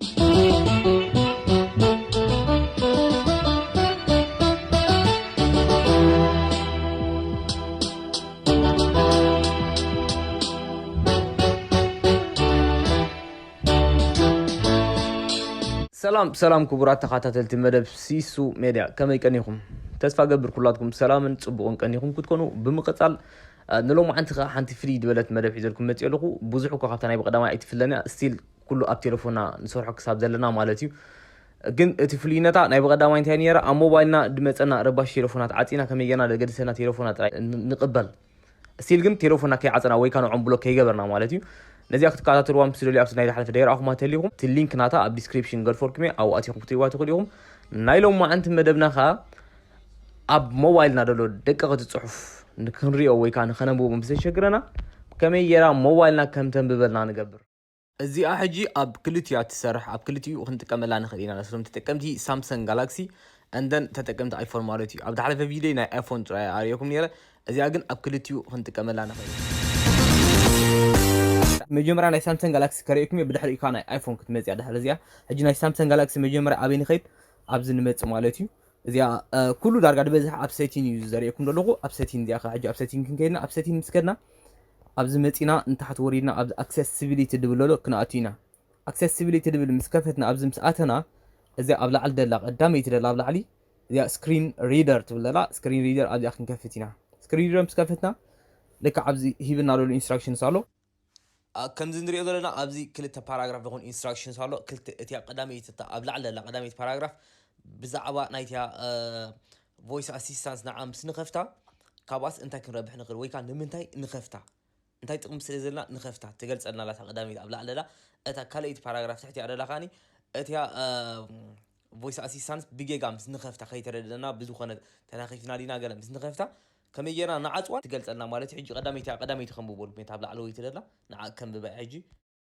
ሰላም ሰላም ክቡራት ተኸታተልቲ መደብ ሲሱ ሜድያ ከመይ ቀኒኹም ተስፋ ገብር ኩላትኩም ሰላምን ፅቡቕን ቀኒኹም ክትኮኑ ብምቕፃል ንሎሚ ሓንቲ ከዓ ሓንቲ ፍልይ ዝበለት መደብ ሒዘልኩም መፅኦ ኣለኹ ብዙሕ እኳ ካብታ ናይ ብቀዳማይ ኣይትፍለን እያ ስቲል ኩሉ ኣብ ቴለፎና ንሰርሖ ክሳብ ዘለና ማለት እዩ ግን እቲ ፍልይነታ ናይ ብቐዳማይ እንታይ ነረ ኣብ ሞባይልና ድመፀና ረባሽ ቴለፎናት ዓፂና ከመይ ጌርና ደገድሰና ቴለፎና ጥራይ ንቕበል ስቲል ግን ቴለፎና ከይዓፀና ወይ ከዓ ንዖም ብሎክ ከይገበርና ማለት እዩ ነዚኣ ክትከታተልዋ ምስ ደልዩ ኣብቲ ናይ ዝሓለፈ ደይረኣኹማ ተሊኹም እቲ ሊንክ ናታ ኣብ ዲስክሪፕሽን ገድፈልኩም እየ ኣብኡ ኣቲኹም ክትሪእዋ ትኽእሉ ኢኹም ናይ ሎም መዓንቲ መደብና ከዓ ኣብ ሞባይልና ደሎ ደቀቕቲ ፅሑፍ ንክንሪኦ ወይ ከዓ ንኸነንብቦ ምስ ዘሸግረና ከመይ ጌራ ሞባይልና ከም ተንብበልና ንገብር እዚኣ ሕጂ ኣብ ክልቲኡ እያ ትሰርሕ ኣብ ክልቲኡ ክንጥቀመላ ንክእል ኢና ነቶም ተጠቀምቲ ሳምሰንግ ጋላክሲ and then ተጠቀምቲ ኣይፎን ማለት እዩ ኣብ ዝሓለፈ ቪድዮይ ናይ ኣይፎን ጥራይ ኣርእየኩም ነይረ እዚኣ ግን ኣብ ክልቲኡ ክንጥቀመላ ንክእል መጀመርያ ናይ ሳምሰንግ ጋላክሲ ከርእየኩም እየ ብድሕሪኡ ከዓ ናይ ኣይፎን ክትመፅእ እያ ድሕሪ እዚኣ ሕጂ ናይ ሳምሰንግ ጋላክሲ መጀመርያ ኣበይ ንኸይድ ኣብዚ ንመፅእ ማለት እዩ እዚኣ ኩሉ ዳርጋ ዝበዝሐ ኣብ ሰቲን እዩ ዘርእየኩም ዘለኹ ኣብ ሰቲን እዚኣ ከዓ ሕጂ ኣብ ሰቲን ክንከይድና ኣብ ሰቲን ምስ ከድና ኣብዚ መጺና ንታሕቲ ወሪድና ኣብዚ ኣክሰሲቢሊቲ ድብለሎ ክንኣቱ ኢና ኣክሰሲቢሊቲ ድብል ምስ ከፈትና ኣብዚ ምስ ኣተና እዚኣ ኣብ ላዕሊ ደላ ቀዳመይቲ ደላ ኣብ ላዕሊ እዚኣ ስክሪን ሪደር ትብል ደላ ስክሪን ሪደር ኣብዚኣ ክንከፍት ኢና ስክሪን ሪደር ምስ ከፈትና ልክዕ ኣብዚ ሂብና ዘሎ ኢንስትራክሽንስ ኣሎ ከምዚ ንሪኦ ዘለና ኣብዚ ክልተ ፓራግራፍ ዝኾን ኢንስትራክሽንስ ኣሎ ክልተ እቲያ ቀዳመይቲ እታ ኣብ ላዕሊ ዘላ ቀዳመይቲ ፓራግራፍ ብዛዕባ ናይቲያ ቮይስ ኣሲስታንስ ንዓ ምስ ንኸፍታ ካብኣስ እንታይ ክንረብሕ ንኽእል ወይ ከዓ ንምንታይ ንኸፍታ እንታይ ጥቕሚ ስለ ዘለና ንኸፍታ ትገልጸልና ኣላ እታ ቀዳመይቲ ኣብ ላዕሊ ኣላ እታ ካልኣይቲ ፓራግራፍ ትሕቲኣ ደላ ከዓኒ እቲያ ቮይስ ኣሲስታንስ ብጌጋ ምስ ንኸፍታ ከይተረድእና ብዝኾነ ተናኺፍና ዲና ገለ ምስ ንኸፍታ ከመይ ጌርና ንዓፅዋ ትገልፀልና ማለት እዩ ሕጂ ቀዳመይቲ ቀዳመይቲ ከንብበሉ ኩነት ኣብ ላዕለወይቲ ደላ ንዓ ከንብባ ሕጂ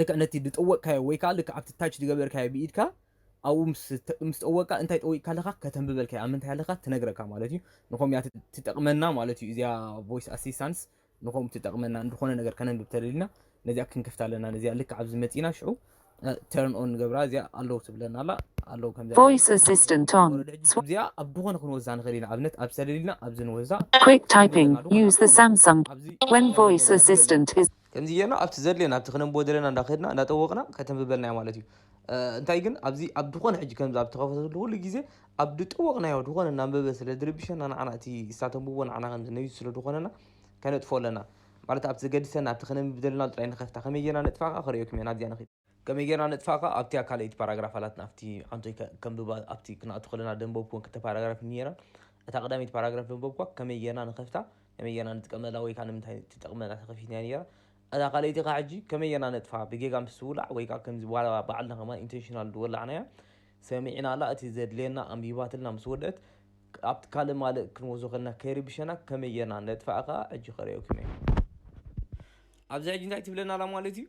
ልክዕ ነቲ ድጠወቅካዮ ወይ ከኣ ልክዕ ኣብቲ ታች ድገበርካዮ ብኢድካ ኣብኡ ምስ ምስ ጠወቅካ እንታይ ጠዊቅካ ኣለካ ከተንብበልካ እያ ኣብ ምንታይ ኣለካ ትነግረካ ማለት እዩ ንከምኡ እያ ትጠቅመና ማለት እዩ እዚኣ ቮይስ ኣሲስታንስ ንከምኡ ትጠቅመና ንዝኮነ ነገር ከነንብብ ተደሊና ነዚኣ ክንከፍታ ኣለና ነዚኣ ልክዕ ኣብዚ መጺና ሽዑ ተርን ኦን ንገብራ እዚኣ ኣለዉ ትብለና ኣላ ኣለዉ ከምዚ ቮይስ ኣሲስታንት ኦን ወረደ ሕጂ እዚኣ ኣብ ዝኾነ ክንወዛ ንኽእል ኢና ኣብነት ኣብ ተደሊልና ኣብዚ ንወዛ quick typing use the samsung ኣብዚ when voice assistant is ከምዚ ጌርና ኣብቲ ዘድልየና ኣብቲ ክነንብቦ ደለና እንዳ ከድና እንዳ ጠወቕና ከተንብበልና እያ ማለት እዩ። እንታይ ግን ኣብዚ ኣብ ድኾነ ሕጂ ከምዚ ኣብ ተኸፈተሉ ኩሉ ግዜ ኣብ ድጠወቕናዮ ድኾነ እናንበበ ስለ ድርብሸና ንዓና እቲ እሳ ተንብቦ ንዓና ከም ዝነቢሱ ስለ ድኾነና ከነጥፍኦ ኣለና። ማለት ኣብቲ ዘገድሰና ኣብቲ ከነንብብ ደለናሉ ጥራይ ንኸፍታ ከመይ ጌርና ነጥፍኣ ከኣ ከርእየኩም እየ ናብዚኣ ንኺድ። ከመይ ጌርና ነጥፍኣካ ኣብቲያ ካልኣይቲ ፓራግራፍ ኣላት ናብቲ ዓንቶይ ከንብባ ኣብቲ ክንኣቱ ከለና ደንበብኩወን ክልተ ፓራግራፍ ነይረን እታ ቀዳመይቲ ፓራግራፍ ደንበብኳ ከመይ ጌርና ንኸፍታ ከመይ ጌርና ንጥቀመላ ወይ ከዓ ንምንታይ ትጠቕመና ተኸፊትና ነይራ እታ ካልኣይቲ ከዓ ሕጂ ከመይ ጌርና ነጥፋ ብጌጋ ምስ ትውላዕ ወይ ከዓ ከምዚ ዋላ ባዕልና ከማ ኢንቴንሽናል ዝወላዕናያ ሰሚዕና ኣላ እቲ ዘድልየና ኣንቢባትልና ምስ ወድአት ኣብቲ ካልእ ማልእ ክንወስዶ ከለና ከይርብሸና ከመይ ጌርና ነጥፍኣ ከዓ ሕጂ ከርእየኩም እየ ኣብዚ ሕጂ እንታይ ትብለና ኣላ ማለት እዩ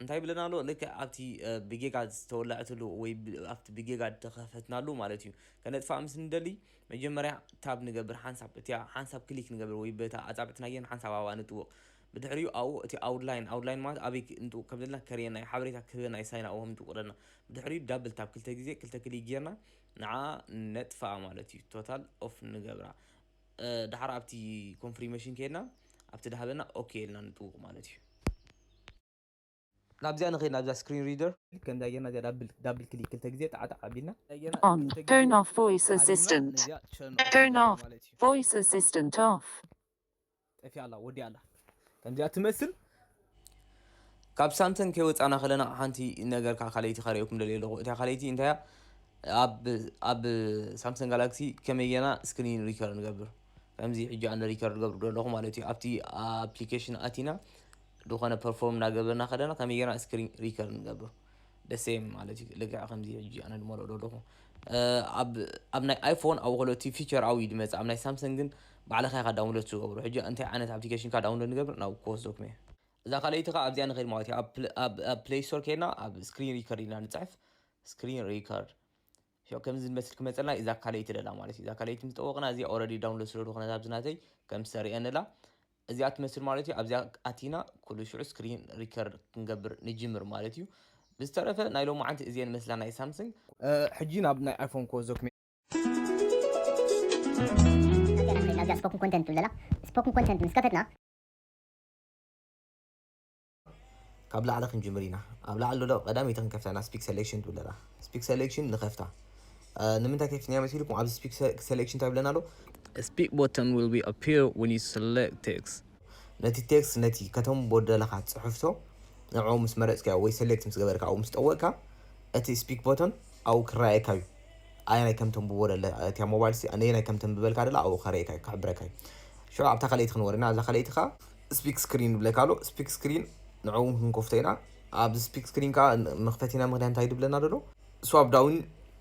እንታይ ይብለና ኣሎ ልክዕ ኣብቲ ብጌጋ ዝተወለዐትሉ ወይ ኣብቲ ብጌጋ ዝተኸፈትናሉ ማለት እዩ ከነጥፋእ ምስ ንደሊ መጀመርያ ታብ ንገብር ሓንሳብ እቲያ ሓንሳብ ክሊክ ንገብር ወይ በታ ኣጻብዕትናየን ሓንሳብ ኣብኣ ንጥውቕ ብድሕሪኡ ኣብኡ እቲ ኣውድላይን ኣውድላይን ማለት ኣበይ ንጥውቕ ከም ዘለና ከርእየና እዩ ሓበሬታ ክህበና እዩ ሳይና ኣብኦም ንጥውቕ ዘለና ብድሕሪኡ ዳብል ታብ ክልተ ግዜ ክልተ ክሊክ ጌርና ንዓ ነጥፍኣ ማለት እዩ ቶታል ኦፍ ንገብራ ዳሓር ኣብቲ ኮንፍሪመሽን ከይድና ኣብቲ ዳሃበና ኦኬ ኢልና ንጥውቅ ማለት እዩ። ናብዚኣ ንኸይድ ናብዛ ስክሪን ሪደር። ከምዛ ጌርና እዚኣ ዳብል ክሊክ ክልተ ግዜ ጣዕ ጣዕ ኣቢልና። ኦን ተርን ኦፍ ቮይስ ኣሲስታንት ተርን ኦፍ ቮይስ ኣሲስታንት ኦፍ። ጠፊኣ ኣላ ወዲኣ ኣላ ከምዚኣ ትመስል ካብ ሳምሰን ከይወፃና ከለና ሓንቲ ነገር ከዓ ካልኣይቲ ካሪኦኩም ደልየ ኣለኹ እታ ካልኣይቲ እንታይ እያ ኣብ ሳምሰንግ ጋላክሲ ከመይ ጌና ስክሪን ሪከር ንገብር ከምዚ ሕጂ ኣነ ሪከር ገብር ደለኹ ማለት እዩ ኣብቲ ኣፕሊኬሽን ኣቲና ዝኾነ ፐርፎርም እናገበርና ከለና ከመይ ጌና ስክሪን ሪከር ንገብር the same ማለት እዩ ልክዕ ከምዚ ሕጂ ኣነ ድማ ልኦ ኣለኹ ኣብ ናይ ኣይፎን ኣብ ኮለቲ ፊቸር ኣው እዩ ድመጽእ ኣብ ናይ ሳምሰንግ ግን ባዕልኻ ኢኻ ዳውንሎድ ትገብሮ ሕጂ እንታይ ዓይነት ኣፕሊኬሽን ካ ዳውንሎድ ንገብር ናብ ክወስደኩም እየ እዛ ካልኣይቲ ኸ ኣብዚኣ ንኸይድ ማለት እዩ ኣብ ፕሌይ ስቶር ከይድና ኣብ ስክሪን ሪከርድ ኢና ንጽሕፍ ስክሪን ሪከርድ ያው ከምዚ ዝመስል ክመፀልና እዛ ካልኣይቲ ደላ ማለት እዩ እዛ ካልኣይቲ ምስ ጠወቕና እዚኣ ኦልሬዲ ዳውንሎድ ስለ ዝኾነት ኣብዚ ናተይ ከም ዝተርእየንላ እዚኣ ትመስል ማለት እዩ ኣብዚኣ ኣቲና ኩሉ ሽዑ ስክሪን ሪከርድ ክንገብር ንጅምር ማለት እዩ ብዝተረፈ ናይ ሎማዓንቲ እዚአን መስላ ናይ ሳምሰንግ ሕጂ ናብ ናይ ኣይፎን ኮ ዞክሜ ናብዛ ስፖክን ኮንተንት ትብለላ ስፖክን ኮንተንት ምስ ከፈትና ካብ ላዕሊ ክንጅምር ኢና ኣብ ላዕሊ ዶሎ ቀዳመይቲ ክንከፍታ ኢና ስፒክ ሰሌክሽን ትብል ኣላ ስፒክ ሰሌክሽን ንኸፍታ ንምንታይ ከፊትና መሲልኩም ኣብዚ ስፒክ ሰሌክሽን እንታይ ብለና ኣሎ ስፒክ ቦተን ዊል ቢ ኣፒር ወን ዩ ሰሌክት ቴክስ ነቲ ቴክስ ነቲ ከተም ቦደለኻ ጽሑፍቶ ንዕኡ ምስ መረጽካዮ ወይ ሰሌክት ምስ ገበርካ ኣብኡ ምስ ጠወቅካ እቲ ስፒክ ቦተን ኣብኡ ክረኣየካ እዩ ኣየናይ ከም ተንብቦ ደለ እቲያ ሞባይል ነየናይ ከም ተንብበልካ ደላ ኣብኡ ከርእየካ እዩ ክሕብረካ እዩ ሽዑ ኣብታ ካልኣይቲ ክንወርና ኣብዛ ካልኣይቲ ከዓ ስፒክ ስክሪን ይብለካ ኣሎ ስፒክ ስክሪን ንዕኡ ክንከፍቶ ኢና ኣብዚ ስፒክ ስክሪን ከዓ መክፈቲና ምክንያት እንታይ ድብለና ደሎ ስዋፕ ዳውን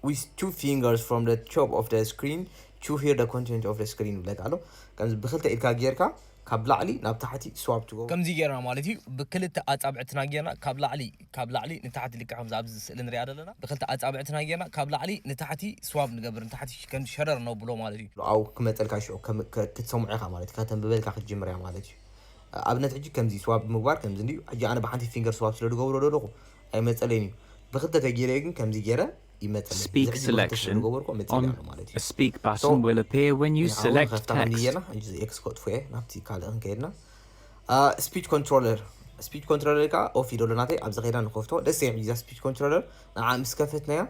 ዊዝ ቱ ፊንገርስ ፍሮም ደ ቶፕ ኦፍ ደ ስክሪን ቱ ሂር ደ ኮንቴንት ኦፍ ደ ስክሪን ይብለካ ኣሎ ከምዚ ብክልተ ኢድካ ጌርካ ካብ ላዕሊ ናብ ታሕቲ ስዋፕ ትገብሮ ከምዚ ጌርና ማለት እዩ ብክልተ ኣፃብዕትና ጌርና ካብ ላዕሊ ካብ ላዕሊ ንታሕቲ ልክዕ ከምዛ ኣብዚ ስእሊ ንሪኣ ዘለና ብክልተ ኣጻብዕትና ጌርና ካብ ላዕሊ ንታሕቲ ስዋብ ንገብር ንታሕቲ ከም ሸረር ነብሎ ማለት እዩ። ሎኣው ክመጸልካ ሽዑ ከም ክትሰምዖ ኢኻ ማለት እዩ ከተንብበልካ ክትጅምር እያ ማለት እዩ። ኣብነት ሕጂ ከምዚ ስዋብ ምግባር ከምዚ እንድዩ ሕጂ ኣነ ብሓንቲ ፊንገር ስዋብ ስለ ድገብሮ ዶ ኣለኹ ኣይመጸለይን እዩ ብክልተ ተጌረዮ ግን ከምዚ ጌረ ይመጸለይ እዚ Speak ሕጂ ብክልተ ስለ Selection ድገበርኩ መጺእለይ on፣ ኣሎ ማለት እዩ። a speak So button will appear when you ንዓ ውን select ንኸፍታ ከምዚ text። ጌርና ሕጂ እዚ ኤክስ ከጥፍኦ እየ ናብቲ ካልእ ክንከይድና። ስፒች ኮንትሮለር ስፒች ኮንትሮለር ከዓ ኦፍ ይደሎ ናተይ ኣብዚ ከይዳ ንከፍቶ ደስ እያ እዛ ስፒች ኮንትሮለር ንዓ ምስ ከፈትናያ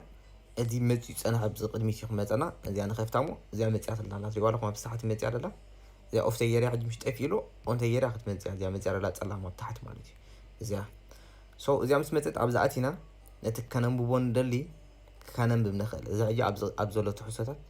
እዚ መፅኡ ፀናሕ ኣብዚ ቅድሚት እዩ ክመፀና እዚኣ ንከፍታ እሞ እዚኣ መፅያ ትላ ኣላ ትሪእዋ ኣለኹም ኣብ ሳሓት መፅያ ደላ እዚኣ ኦፍ ተየርያ ሕጂ ምሽ ጠፊ ኢሉ ኦን ተየርያ ክትመፅያ እዚኣ መፅያ ደላ ፀላም ኣብ ታሕቲ ማለት እዩ እዚኣ ሶ እዚኣ ምስ መፀት ኣብዚ ኣቲና ነቲ ከነንብቦ ንደሊ ከነንብብ ንኽእል እዚ ሕጂ ኣብ ዘሎ ትሕዝቶታት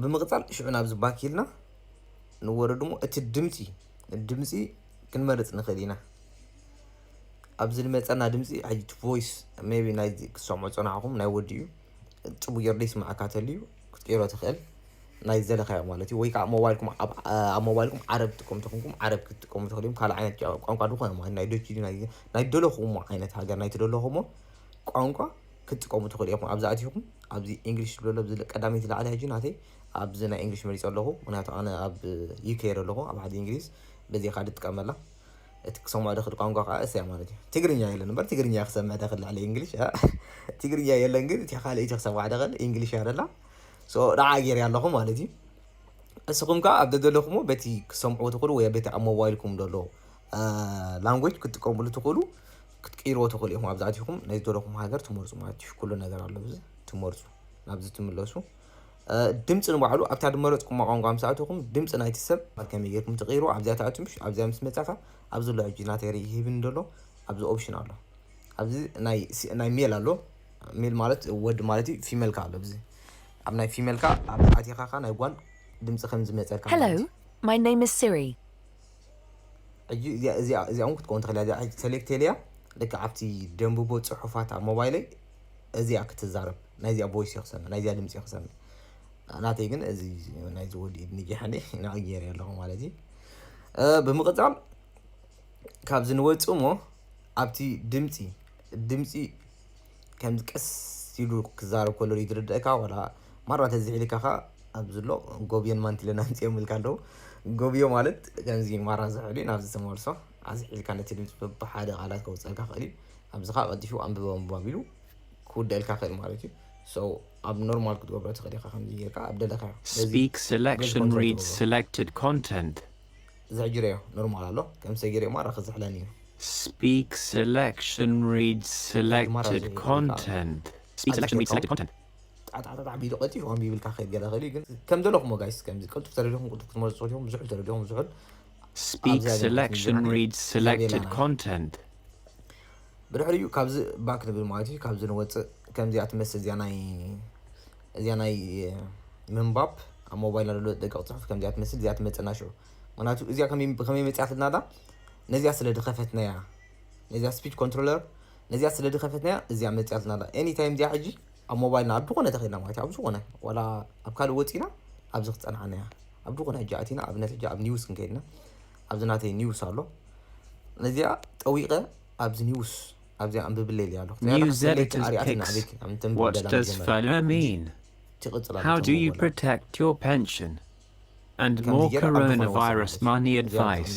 ብምቕጻል ሽዑ ናብዚ ባክ ኢልና ንወርድ እሞ እቲ ድምጺ ድምጺ ክንመርጽ ንኽእል ኢና ኣብዚ ዝመፀና ድምፂ ሕጂ ቮይስ ቢ ናይ ክትሰምዑ ፀናዕኹም ናይ ወዲ እዩ ፅቡ ጌሩ ዘይስማዕካ ተልዩ ክትቅይሮ ትኽእል ናይ ዘለካዮ ማለት እዩ ወይ ከዓ ሞባይልኩም ኣብ ሞባይልኩም ዓረብ ትጥቀሙ ተኹንኩም ዓረብ ክትጥቀሙ ትኽእል እዮም ካልእ ዓይነት ቋንቋ ዝኾነ ማለት ናይ ዶች ናይ ደለኹሞ ዓይነት ሃገር ናይ ትደለኹሞ ቋንቋ ክትጥቀሙ ትክእሉ ኢኩም ኣብዚ ኣቲኩም ኣብዚ ኢንግሊሽ ዝብሎ ኣሎ ኣብዚ ቀዳመይቲ ላዕሊ ሕጂ ናተይ ኣብዚ ናይ ኢንግሊሽ መሪጸ ኣለኩ ምክንያቱ ኣነ ኣብ ዩኬ እየ ዘለኩ ኣብ ዓዲ ኢንግሊዝ በዚ ኢካ ድጥቀመላ እቲ ክሰምዖ ድክእል ቋንቋ ከዓ እሰያ ማለት እዩ ትግርኛ የለን እምበር ትግርኛ እየ ክሰምዕ ድክእል ልዕሊ ኢንግሊሽ ትግርኛ የለን ግን እቲ ካልእ እቲ ክሰምዓ ድክእል ኢንግሊሽ እያ ደላ ሶ ንዓ ጌርያ ኣለኩ ማለት እዩ እስኹም ከዓ ኣብ ደደለኹሞ በቲ ክሰምዑ ትኽእሉ ወይ በቲ ኣብ ሞባይልኩም ደሎ ላንጉጅ ክትጥቀምሉ ትኽእሉ ክትቅይርዎ ትኽእሉ ኢኹም ኣብዚ ኣቲኹም ናይ ዝደለኹም ሃገር ትመርጹ ማለት እዩ ኩሉ ነገር ኣሎ ኣብዚ ትመርጹ ናብዚ ትምለሱ ድምፂ ንባዕሉ ኣብታ ድመረፅኩማ ቋንቋ ምስ ኣተኹም ድምፂ ናይቲ ሰብ ከመይ ጌርኩም ትቕይሩ ኣብዚኣ ትኣቱ ምሽ ኣብዚኣ ምስ መፃእካ ኣብዚ ኣሎ ሕጂ ናተይ ርኢ ሂብኒ ደሎ ኣብዚ ኦፕሽን ኣሎ ኣብዚ ናይ ሜል ኣሎ ሜል ማለት ወዲ ማለት እዩ ፊሜል ከዓ ኣሎ ኣብዚ ኣብ ናይ ፊሜል ከዓ ኣብዚ ኣቲኻ ከዓ ናይ ጓል ድምፂ ከም ዝመፀካ ማለት እዩ Hello, my name is Siri. ሕጂ እዚኣ እዚኣ እዚኣ እውን ክትከውን ትኽእል እዚኣ ሕጂ ሰሌክት የለያ ልክዕ ኣብቲ ደንብቦ ፅሑፋት ኣብ ሞባይለይ እዚኣ ክትዛረብ ናይዚኣ ቦይስ እየ ክሰምዕ ናይዚኣ ድምፂ እየ ክሰምዕ ናተይ ግን እዚ ናይዚ ወዲ ኢድ ንጊሐኒ ንዕ ገይረ ኣለኹ ማለት እዩ ብምቕፃል ካብዚ ንወፅ እሞ ኣብቲ ድምፂ ድምፂ ከም ቀስ ኢሉ ክዛረብ ከሎ ዝርድእካ ወላ ማራ ተዝሕ ኢልካ ከኣ ኣብዚ ኣሎ ጎብዮን ማንቲለን ኣምጺኦም ኢልካ ኣለዉ ጎብዮ ማለት ከምዚ ማራ ዝሕል እዩ ናብዚ ተመልሶ ኣዝሕ ኢልካ ነቲ ድምጺ በብሓደ ቃላት ከውጸልካ ክእል እዩ ኣብዚ ከኣ ቀልጢፉ ኣንብበ ምባብ ኢሉ ክውደልካ ክእል ማለት እዩ so ኣብ ኖርማል ክትገብሮ ትክእል ኢካ ከምዚ ጌርካ ኣብ ደለካዮ ስለዚ Speak በዚ selection ኮንትሮል read ትገብሮ selected content ዝሕ ጊረዮ ኖርማል ኣሎ ከም ሰጊረዮ ማራ ክዝሕለኒ እዩ Speak selection read እቲ ማራ selected ዝሕ ኢልካ content Speak selection read selected content ጣጣጣጣ ቢሉ ቀልጢፉ ከንቢብልካ ክኸይድ ገለ ክእል እዩ ግን ከም ዘለኹሞ ጋይስ ከምዚ ቅልጡፍ ተደሊኹም ቅልጡፍ ክትመርጹ ትኽእሉ ኢኹም ዝሑል ተደሊኹም ዝሑል Speak selection read selected content ብድሕሪኡ ካብዚ ባክ ንብል ማለት እዩ ካብዚ ንወፅእ ከምዚኣ ትመስል እዚኣ ናይ እዚኣ ናይ ምንባብ ኣብ ሞባይልና ዘሎ ደቂቕ ፅሑፍ ከምዚኣ ትመስል እዚኣ ትመፅና ሽዑ ምክንያቱ እዚኣ ከመይ መፅያትልና ዳ ነዚኣ ስለ ድኸፈትናያ ነዚኣ ስፒች ኮንትሮለር ነዚኣ ስለ ድኸፈትናያ እዚኣ መፅያትና ኣላ ኤኒ ታይም እዚኣ ሕጂ ኣብ ሞባይልና ኣብ ዝኾነ ተኺልና ማለት ኣብ ዝኾነ ዋላ ኣብ ካልእ ወፂና ኣብዚ ክፀንዓና እያ ኣብ ዝኾነ ሕጂ ኣቲና ኣብነት ሕጂ ኣብ ኒውስ ክንከይድና ኣብዚ ናተይ ኒውስ ኣሎ ነዚኣ ጠዊቐ ኣብዚ ኒውስ ኣብዚኣ ኣንብብለይ ኢለያ ኣለኹ User it is pics. What does FOMO mean? How do you protect your pension? And more coronavirus money advice.